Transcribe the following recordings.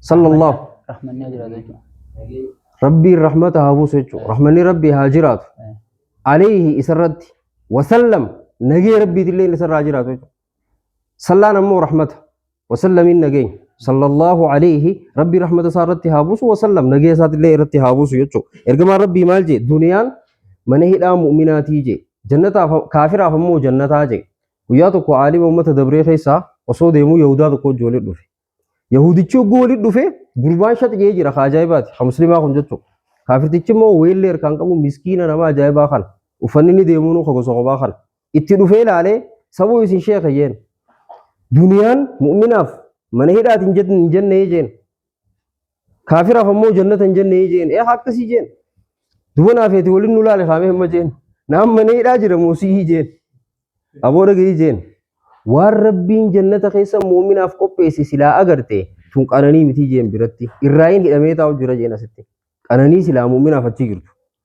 sallallahu Rahmanni haa jiraatu jechuudha. rabbiin rahmata haa buusu jechuudha rahmanni rabbii haa jiraatu Eh. alayhi isarratti wasallam nagee rabbiitillee isarra haa jiraatu jechuudha sallaan ammoo rahmata wasallamiin nageenya sallallahu alayhi rabbii rahmata isaa irratti haa buusu wasallam nagee isaatillee irratti haa buusu jechuudha ergamaan rabbii maal jee duniyaan mana hidhaa mu'minaatii jee jannataaf kaafiraaf ammoo jannataa jee Guyyaa tokko aalima uummata dabree keessaa osoo deemuu Yahudaa tokko wajjin walitti dhufe. Yahudichi hogguu walitti dhufe gurbaan shaxi jedhee jira ka ajaa'ibaati ka musliimaa kun jechuudha. Kaafirtichi immoo weellee harkaan qabu miskiina nama ajaa'ibaa kana uffanni inni deemuun ka gosa kophaa kana itti dhufee ilaalee sabuu isin sheeka jeen. Duniyaan mu'minaaf mana hidhaati hin jenne jeen. Kaafiraaf ammoo jannata hin jenne hii jeen. Eh akkasii jeen. Duba naa feeti waliin nu laale kaamee himma jeen. Naam mana hidhaa jira moosii hii jeen. Aboo dhagahii jeen. Waan rabbiin jannata keessa muuminaaf qopheesse silaa agarte tun qananii mitii jeen biratti. Irraayin hidhamee taa'u jira jeen asitti. Qananii silaa muuminaaf achi jirtu.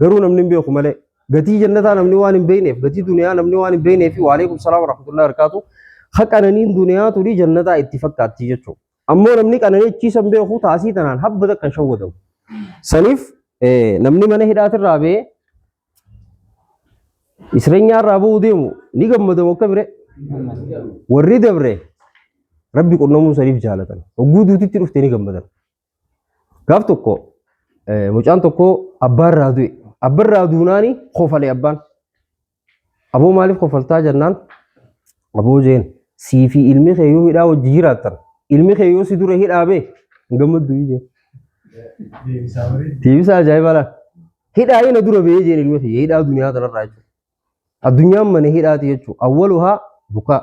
garuu namni hin beeku malee gatii jannataa namni waan hin beekneef gatii duniyaa namni waan hin beekneef fi waaleekum salaam warahmatullahi wabarakaatu ha qananiin duniyaa tuni jannataa itti fakkaatti jechuudha. Ammoo namni qananii achiisa hin beeku taasii tanaan habba takka hin shawwadamu. Saniif eh, namni mana hidhaatirraa ba'ee isrenyaa irraa ba'uu deemu ni gammadamu akka bire warri dabre rabbi qunnamuu saniif jaalatan hogguu duutitti dhufte ni gammadan Gaaf tokko eh, mucaan tokko abbaa irraa du'e. Abba irraa duunaani kofale abbaan. Aboo maaliif kofaltaa jennaan? Aboo jeen sii fi ilmi kee yoo hidhaa wajji jiraattan ilmi kee yoo si dura hidhaa bee hin gammaddu jeen. Deebisaa ajaa'ibaa laata? Hidhaa ina dura bee jeen ilmi kee hidhaa duniyaa tanarraa jechuudha. Addunyaan mana hidhaati jechuudha. Awwaluhaa bukaa.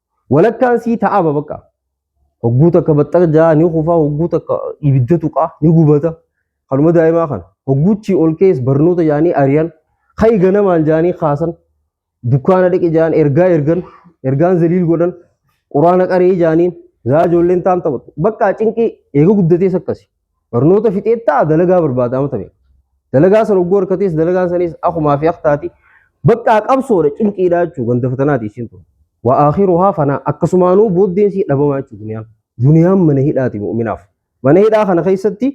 Walakkaan sii ta'aba bakka. Hogguu takka baxxaqa ja'a ni kufaa, hogguu takka ibidda tuqaa ni gubata. Kanuma daa'imaa kana. Hogguuchi ol kees barnoota jaanii ari'an. Ka'i ganamaan jaanii kaasan. Dukkaana dhaqi jaan ergaa ergan. Ergaan zaliil godhan. Quraana qaree jaaniin. Zaa ijoolleen taam taphatu. Bakka cinqii eega guddatees akkasi. Barnoota fixeettaa dalagaa barbaada amma ta'e. Dalagaa sana ogguu harkatees dalagaan sanis akumaa fi aktaati. Bakka qabsoodha cinqiidha jechuudha ganda fatanaati isin tun. Wa akhiru haa fanaa akkasumaanuu booddeen sii dhabamaa jechuudha duniyaan. Duniyaan mana hidhaati mu'uminaaf. Mana hidhaa kana keessatti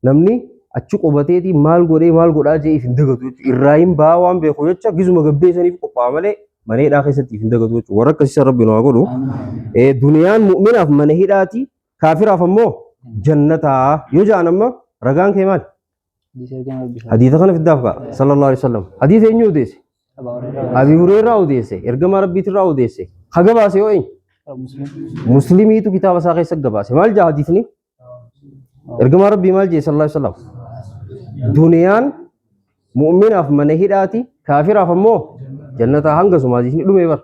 namni achi qubateeti maal godhee maal godhaa jee if hin dagatu jechuudha. Irraa hin ba'aa waan beeku jecha gizuma gabbee saniif qophaa'a malee mana hidhaa keessatti if hin dagatu jechuudha. Warra akkasiisan rabbi nu haa godhu. Duniyaan mu'uminaaf mana hidhaati. kaafiraaf ammoo jannataa yoo ja'an amma ragaan kee maali hadiisa kana fiddaaf ka'a sallallahu alaihi wasallam hadiisa eenyu odeesse abi hureerraa odeesse ergamaa rabbiitirraa odeesse ha gabaase yoo eenyu muslimiitu kitaaba isaa keessa gabaase maal ja'a hadiisni ergamaa rabbii maal jee sallallahu alaihi wasallam duniyaan mu'minaaf mana hidhaati kaafiraaf ammoo jannataa hanga sumaa hadiisni dhumee bara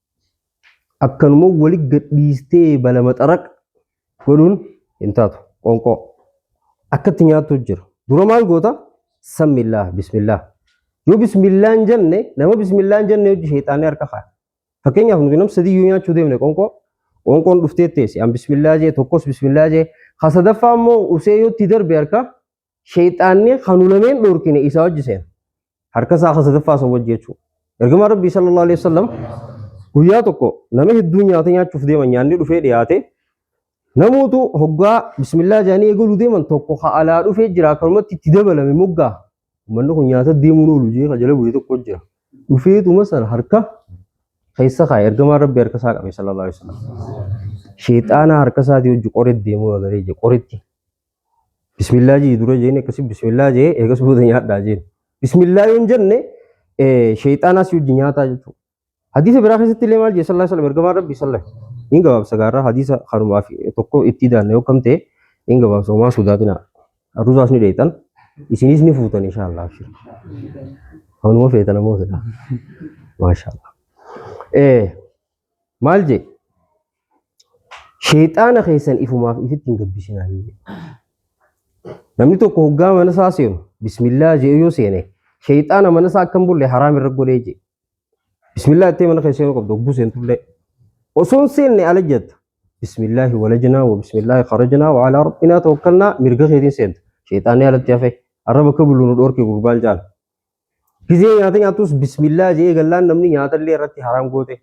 akkanuma wali gadhiistee balamaxaraq godhuun hin taatu qoonqoo akkatti nyaattu jira dura maal goota sammillaah bismillaah yoo bismillaah hin jenne nama bismillaah hin jenne hojii sheexaanni harka ka'a fakkeenyaaf nuti nam sadii yoo nyaachuu deemne qoonqoo qoonqoon dhuftee teessi an bismillaah jee tokkos bismillaah jee hasadaffaa immoo usee yoo itti darbe harka sheexaanni kan nu lameen dhoorkine isaa wajji seena. Harka isaa kan sadaffaa isaa wajji jechuudha. Ergamaan Rabbii sallallahu alaihi wasallam guyyaa tokko nama hedduu nyaata nyaachuuf deeman nyaanni dhufee dhiyaate namoota hoggaa bismillaa jedhanii eegaluu deeman tokko ka alaa dhufee jira kanumatti itti dabalame moggaa uummanni kun nyaata deemuun oolu jee ka jala bu'ee tokko jira. Dhufeetuma sana harka keessa kaa'e ergamaan Rabbii harka isaa qabe sallallahu alaihi wasallam. Sheexaana harka isaatii hojii qoretti deemuu agaree jira qoretti. Bismillaa jii dura jeeni akkasi bismillaa jee eegas booda nyaadhaa jeeni. Bismillaa yoon jenne sheexaanaas hojji nyaataa jechuudha. Hadiisa biraa keessatti illee maal jee sallaa sallam ergamaa rabbi sallaa. Hin gabaabsa gaarraa hadiisa kanumaa fi tokko itti daanna yoo kam ta'e hin gabaabsa homaa sodaatinaa. Arruzaas ni dheeyxan isinis ni fuutan inshaallah abshir. Kanuma feetan ammoo jedha. Maashaallah. Maal jee? Sheexaana keessan ifumaaf ifitti hin gabbisinaa. Namni tokko hoggaa mana isaa seenu bismillaa jedhee yoo seene sheexaana mana isaa akka hin bulle haraam irra godhee jedhe. Bismillaa jettee mana keessa seenuu qabdu hogguu seentullee. Osoo hin seenne ala jetta. Bismillaahi walajnaa wa bismillaahi kharajnaa wa alaa rabbinaa tawakkalnaa mirga keetiin seenta. Sheexaanni alatti hafee arraba akka bullu nu dhoorke gurbaan jaala. Gizee nyaata nyaatus bismillaa jee gallaan namni nyaatallee irratti haraam goote.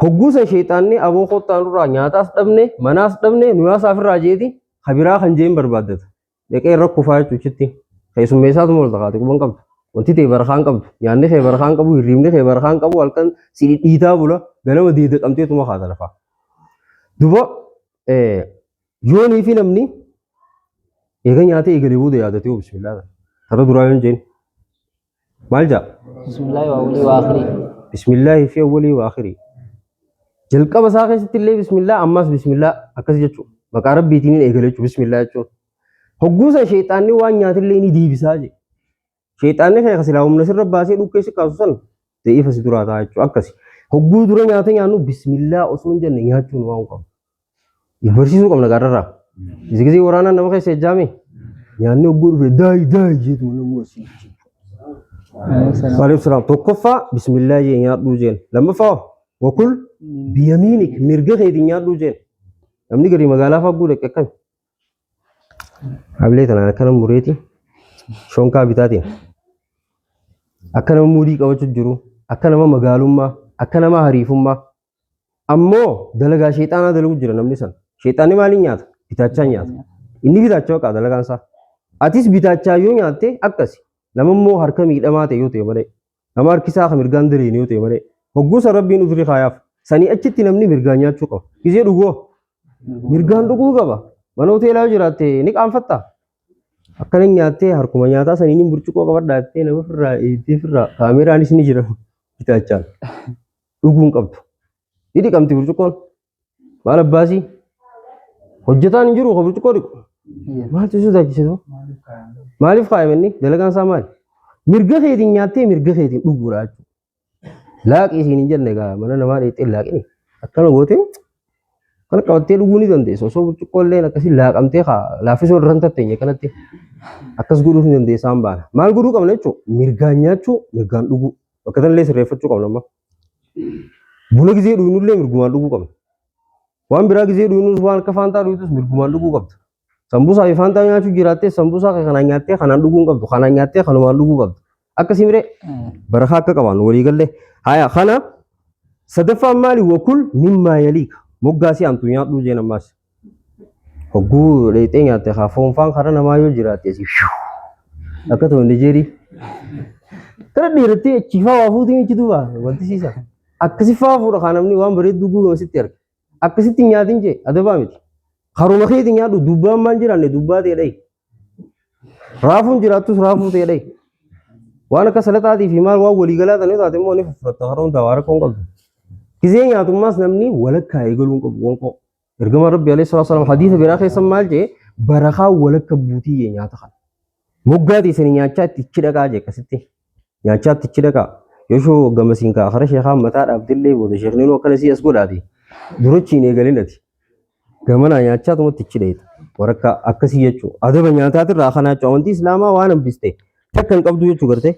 Hogguusa sheexaanni aboo kottaan irraa nyaataas dhabne manaas dhabne nuyaasaaf irraa jeeti habiraa kan jeen barbaaddata. Dhaqee irra kufaa jechuuchitti keessummeessaatu moolta kaate quban qabdu. Wanti ta'e barakaan qabdu nyaanni kee barakaan qabu hirriibni kee barakaan qabu halkan si dhidhiitaa bula ganama deedaqamteetuma kaata lafaa. Duba Yoo nii fi namni eega nyaatee eegalee booda yaadatee hoo bismillaa kana. Tara duraa yoon jeen. Maal jaa? Bismillaahi wa awwalii wa akhirii. Bismillaahi fi awwalii wa akhirii. Jalqaba isaa keessatti illee bismillaa ammaas bismillaa akkas jechuudha. Maqaa rabbiitiin hin eegale jechuudha bismillaa jechuudha. Hogguusa sheexaanni waan nyaatillee ni deebisaa jedhe. Sheexaanni kee silaa humna sirra baasee dhukkee si kaasu san da'iifa si duraa ta'a jechuudha akkasi. Hogguu dura nyaata nyaannu bismillaa osoo hin jenne nyaachuun waan qabu. If barsiisuu qabna gaarrarraa. Isi gisee waraanaan nama keessa ejjaame nyaanni hogguu dhufe daayi daayi jeetu mana immoo asii. Waalaikum salaam. Tokkoffaa bismillaa jee nyaadhuu jeen. Lammaffaa wakul biyamiinik mirga keetiin nyaadhuu jeen. Namni garii magaalaa fagguu dhaqe akkami? Hablee tanaan akkana mureeti shonkaa bitaatiin akka nama muudii qabachuu jiru akka nama magaalummaa akka nama hariifummaa ammoo dalagaa sheexaanaa dalagu jira namni san sheexaanni maaliin nyaata bitaachaa nyaata inni bitaachaa qaba dalagaan isaa atis bitaachaa yoo nyaatte akkasi nama immoo harka miidhamaa ta'e yoo ta'e malee Nama harkisaa kan mirgaan diriin yoo ta'e malee. Hogguusa rabbiin uzrii kaayaaf. Sanii achitti namni mirgaan nyaachuu qaba. Gizee dhugoo. Mirgaan dhuguu qaba. Mana hoteelaa yoo jiraatte ni qaanfatta. Akkana nyaattee harkuma nyaataa saniin burcuqqoo qabadhaa jettee nama firraa eeddee firraa kaameraanis ni jira bitaachaan. Dhuguun qabdu. Ni dhiqamti burcuqqoon. Maal abbaasii? Hojjetaan hin jiru ka burcuqqoo dhiqu. Maaltu isu taachisisu? Maaliif kaa'ame inni? Dalagaan isaa maali? Mirga keetiin nyaattee mirga keetiin dhuguudha jechuudha. Laaqii isiin hin jenne egaa mana namaa dheexxee hin laaqini. Akkana gootee kana qabattee dhuguu ni dandeessu. Osoo burcuqqoo illee akkasii laaqamtee kaa laaffisoo irra hin tatteenye kanatti akkas godhuuf ni dandeessaa hin baana. Maal godhuu qabna jechuudha? Mirgaan nyaachuu, mirgaan dhuguu. Bakka tanallee sirreeffachuu qabna amma. Buna gizee dhugnullee mirgumaan dhuguu qabna. Waan biraa gizee dhugnus waan akka faantaa dhugdus mirgumaan dhuguu qabda. Sambusaa fi faantaa nyaachuu jiraattee sambusaa kee kanaan nyaattee kanaan dhuguu hin qabdu. Kanaan nyaattee kanumaan dhuguu qabda. Akkasii miree barakaa akka qabaannu walii gallee. Haya kana sadaffaan maali wakul mimmaa yaliika moggaasii aantu nyaadhuu jeen ammaas. Hogguu dheexee nyaatte kaa foonfaan karaa namaa yoo jiraatte si akka ta'u Nijeerii. Tana dhiiratti achi faa waa fuutiin achi duuba wanti siisa. Akkasi faa fuudha kaa namni waan bareedduu guutuu sitti arge. Akkasitti nyaatiin jee adabaa miti. Haruma keetiin nyaadhu dubbaan maan jiraanne dubbaa ta'e dhayi. Raafuun jiraattus raafuu ta'e dhahi. Waan akka salaxaatii fi maal waan waliigalaa ta'an yoo taate immoo ni fuffatta haroon ta'a harka hin qabdu. Gizee nyaatummaas namni walakkaa eegaluu hin qabu gonqoo. Ergamaan Rabbi alayhi salaatu wasalaam hadiisa biraa keessa maal jee barakaa walakka buutii jee nyaata kana. Moggaa teessanii nyaachaa itti ichi dhaqaa jee akkasitti. nyaachaatti ichi dhaqaa. Yoshoo gamasiin kaa kara sheekaa mataa dhaabdellee booda sheekninuu akkana sii as godhaati. Durachi hin eegalin ati. Gamanaa nyaachaatummatti ichi dheeta. Warakkaa akkasii jechuu. Adaba nyaataatirraa akka nyaachuu amantii islaamaa waan hambiste takka hin qabdu jechuu gartee.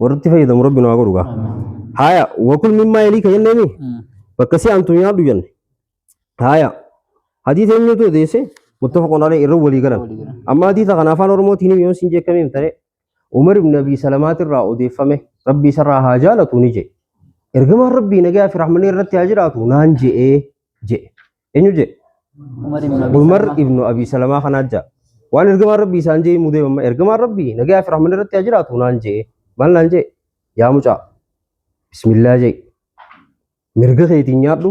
Warratti fayyadamu rabbi nu haa godhu gaa. Haaya wakul mimmaa yalii ka jenneemi bakka si aantu nyaadhu jenne. Haaya hadiisa eenyutu odeesse muttafaqun alee irra walii galan. Amma hadiisa kana afaan oromootiin yoon siin jeekamee hin taree. Umar ibn Abi Salamaatirraa odeeffame Rabbi isarraa haa jaalatu ni jedhe. Ergamaan Rabbii nagaa fi rahmanni irratti haa jiraatu naan je'ee je'e. Eenyu je'e? Umar ibn Abi Umar Salama. ibn Abi Salamaa kanaa ja'a. Waan ergamaan Rabbii isaan je'e mudee mamma ergamaan Rabbii nagaa fi rahmanni irratti haa jiraatu naan je'e. Maal naan je'e? Yaa mucaa bismillaa je'i. Mirga keetiin nyaadhu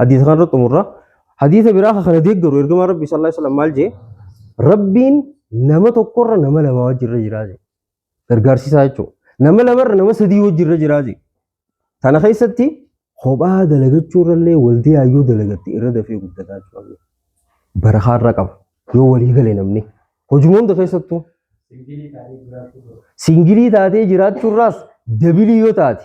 Hadiisa kanarra xumurra. Hadiisa biraa kan kana deeggaru ergamaa Rabbii sallallahu alaihi wasallam maal jee? Rabbiin nama tokkorra nama lama wajjirra jiraa jee. Gargaarsisaa jechuudha. Nama lamarra nama sadii wajjirra jiraa jee. Kana keessatti kophaa dalagachuurrallee waldee hayyuu dalagatte irra dafee guddataa jechuudha. Barakaarra qaba. Yoo walii gale namni. Hojuma hunda keessattuu singilii taatee jiraachuurraas dabilii yoo taate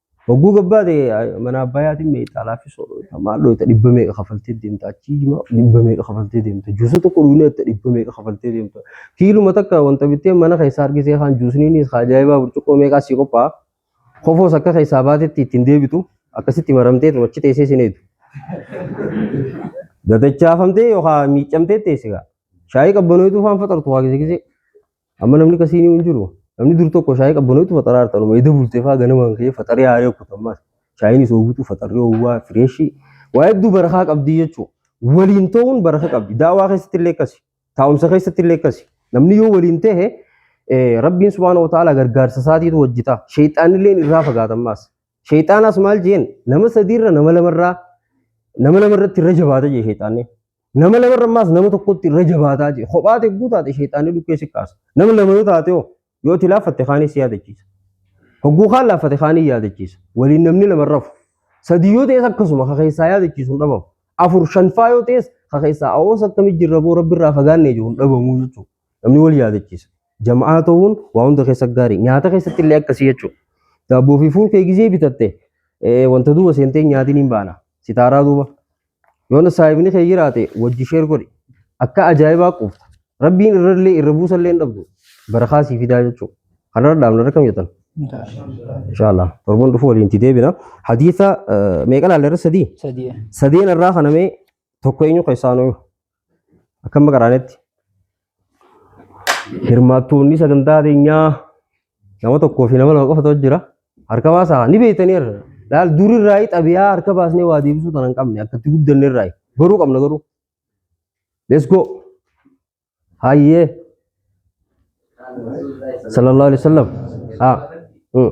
Hogguu gabbaate mana abbaayaatiin meexxaa laaffisoo dhooyta maal dhooyta dhibba meeqa kafaltee deemta achii jimaa dhibba meeqa kafaltee deemta juusa tokko dhuunee atta dhibba meeqa kafaltee deemta kiiluma takka wanta bittee mana keessaa argisee kaan juusniinis kaa ajaa'ibaa burcuqqoo meeqaa sii qophaa'a kofoos akka keessaa baatetti ittiin deebitu akkasitti maramtee achi teessee sin eedu. Dadachaafamtee yookaan miiccamtee teessigaa shaayii qabbanooytuu faan faxartu waa gisee gisee Amma namni kasiin hin jiru. Namni dur tokko shaayii qabbanoitu faxaraa arxanuma. Ida bultee faa ganama kan ka'ee faxaree haaree okkutu ammaas. Shaayiin isoo butu faxarree owwaa fireeshii. Waa hedduu barakaa qabdii jechuu. Waliin ta'uun baraka qabdi. Daawaa keessatti illee akkasi. Taa'umsa keessatti illee akkasi. Namni yoo waliin ta'e rabbiin subhaanahu wa ta'ala gargaarsa isaatiitu hojjeta. Sheexaan illee irraa fagaata ammaas. Sheexaanas maal jeen nama sadiirra nama lamarraa nama lamarratti irra jabaata jee sheexaanni. Nama lamarra ammaas nama tokkotti irra jabaataa jee kophaa ta'e guutaa ta'e sheexaanni dhukkee si kaasa. Nama lama yoo taate hoo yoo itti laaffatte kaanis si yaadachiisa. Hogguu kaan laaffate kaanii yaadachiisa. Waliin namni lamarra hafu. Sadii yoo ta'es akkasuma ka keessaa yaadachiisu hin dhabamu. Afur shanfaa yoo ta'es ka keessaa awoos akkamitti jirra boo rabbi irraa fagaannee jiru hin dhabamu jechuudha. Namni wal yaadachiisa. Jama'aa ta'uun waa hunda keessa gaarii. Nyaata keessatti illee akkasii jechuudha. Daabboo fi fuul kee gizee bitatte eh, wanta duuba seentee nyaatiin hin baana. Sitaaraa duuba. Yoona saahibni kee jiraate wajji sheer godhi. Akka ajaa'ibaa quufta. Rabbiin irrallee irra buusallee hin dhabdu. Barakaa sii fidaa jechuudha. Kanarra dhaabna irra kam jettan? Inshaallah. Torban dhufu waliin itti deebina. Hadiisa meeqa laalla irra sadii? Sadii. Sadeen irraa kanamee tokko eenyu keessaa nuyi? Akka amma qaraanetti hirmaattoonni sagantaa teenyaa nama tokkoo fi nama lama qofa ta'u jira. Harka baasaa ni beektanii irra. Laal duri irraa xabiyaa harka baasnee waa deebisuu tan hin qabne akka itti guddanne irraa baruu qabna garuu. Let's go. Hayyee. Sallallahu alaihi wasallam. Ah. Mm.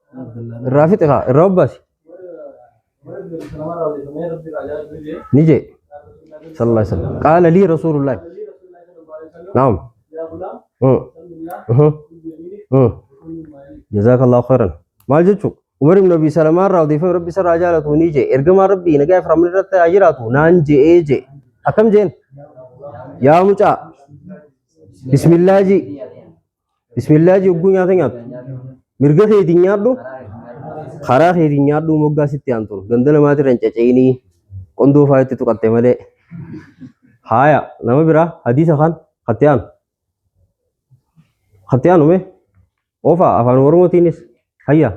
irraa fixe kaa irraa obbaasi ni jee sallallahu alaihi wasallam qaala lii rasuulullahi naam Mm. Mhm. Mm. jazaakallahu khairan maal jechuu umar ibn abi salamaa irraa odeeffame rabbi isarraa jaalatu ni jee ergamaa rabbii nagaa iframni irratti haa jiraatu naan je'ee jee akkam jeen yaa mucaa bismillaahi Bismillaahi yogguu nyaata nyaattu. Mirga keetiin nyaadhu. Karaa keetiin nyaadhu moggaa sitti aantuun. Ganda namaatti irra hin caca'inii. Qondoo fa'aa itti tuqatte malee. Haaya nama biraa hadiisa kan katti aanu. Katti aanu mee? Oofaa afaan Oromootiinis. Hayya.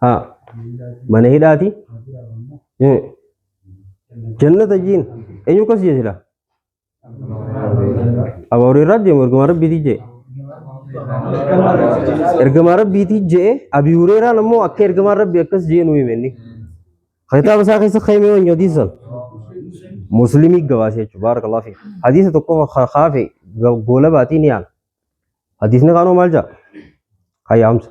Haa. Mana hidhaati. Jannata jiin. Eenyu akkas jechila? Abaa Hureyraa deemu ergamaa rabbiitii jee. Ergamaa rabbiitii jee Abii Hureyraan ammoo akka ergamaa rabbii akkas jee nu hime inni. Kitaaba isaa keessa kaa'imee waan hadiisan. Muslimii gabaasee jechuudha. Baarakalaa fi hadiisa tokko kaafe goola baatii ni yaala. Hadiisni kaanoo maal jaa? Hayyaamsa.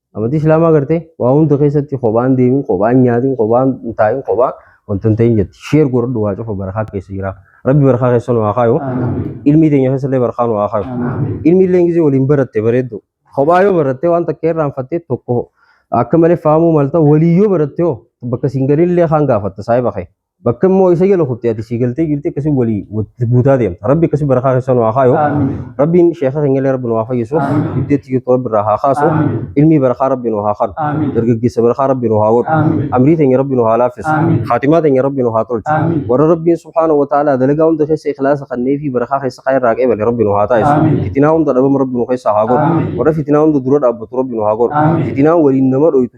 Amantii Islaamaa agartee waa hunda keessatti kophaan deemin, kophaan nyaatin, kophaan hin taa'in, kophaa wanta hin ta'in jetti. Sheer godhadhu waa cufa barakaa keessa jira. Rabbi barakaa keessa nu haa kaayu. Ilmii teenya keessa illee barakaa nu haa kaayu. Ilmi illee gisee waliin baratte bareeddu. Kophaa yoo baratte waan takka irraanfattee tokko akka malee faamuu malta walii yoo baratte hoo bakka siin galin illee kaan gaafatta saahiba kee. bakka immoo isa jala kutte ati sii galtee jirti akkasii walii walitti guutaa deemta rabbi akkasii barakaa keessa nu haa kaayu rabbiin sheekha keenya illee rabbi nu haa fayyisu iddeetti jirtu rabbi irraa haa kaasu ilmii barakaa rabbi nu haa kanu dargaggeessa barakaa rabbi nu haa godhu amrii teenya rabbi nu haa laaffisu haatimaa teenya rabbi nu haa tolchu warra rabbiin subhaana wa ta'ala dalagaa hunda keessa ikhlaasa kannee fi barakaa keessa kaa irraa qeebale rabbi nu haa taasisu fitinaa hunda dhabama rabbi nu keessaa haa godhu warra fitinaa hunda dura dhaabbatu rabbi nu haa godhu fitinaa waliin nama dhoytu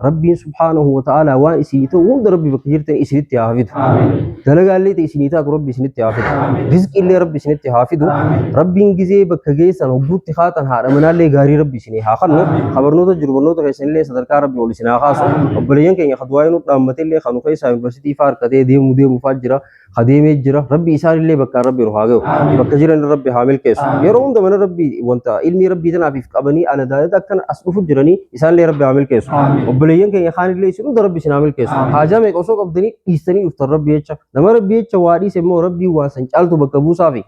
Rabbiin subhaanahu wa ta'aalaa waan isinii ta'u hunda rabbi bakka jirtan isinitti haa fidu. Dalagaallee ta'e isinii taatu rabbi isinitti haa fidu. Rizqiillee rabbi isinitti haa fidu. Rabbiin gizee bakka geessan hogguutti haatan haadha manaallee gaarii rabbi isinii haa kennu. Habarnoota jiru barnoota keessanillee sadarkaa rabbi ol isin haa kaasu. Obboleeyyan keenya kan du'aa nu dhaammatillee kan nu keessaa yuunivarsiitii faa harkatee deemu deemu faa jira. adeemee jira. Rabbi isaanillee bakkaan rabbi nu haa gahu. Amiin. Bakka jiran rabbi haa milkeessu. Amiin. Yeroo hunda mana rabbi wanta ilmii rabbii tanaafif qabanii ana daadada akkana as dhufu jiranii isaanillee rabbi haa milkeessu. Amiin. Obboleeyyan keenya kaanillee isin hunda rabbi isin haa milkeessu. Amiin. Haajaa meeqa osoo qabdanii dhiistanii dhuftan rabbi jecha. Nama rabbi jecha waa dhiise immoo rabbii waan san caaltu bakka buusaafi.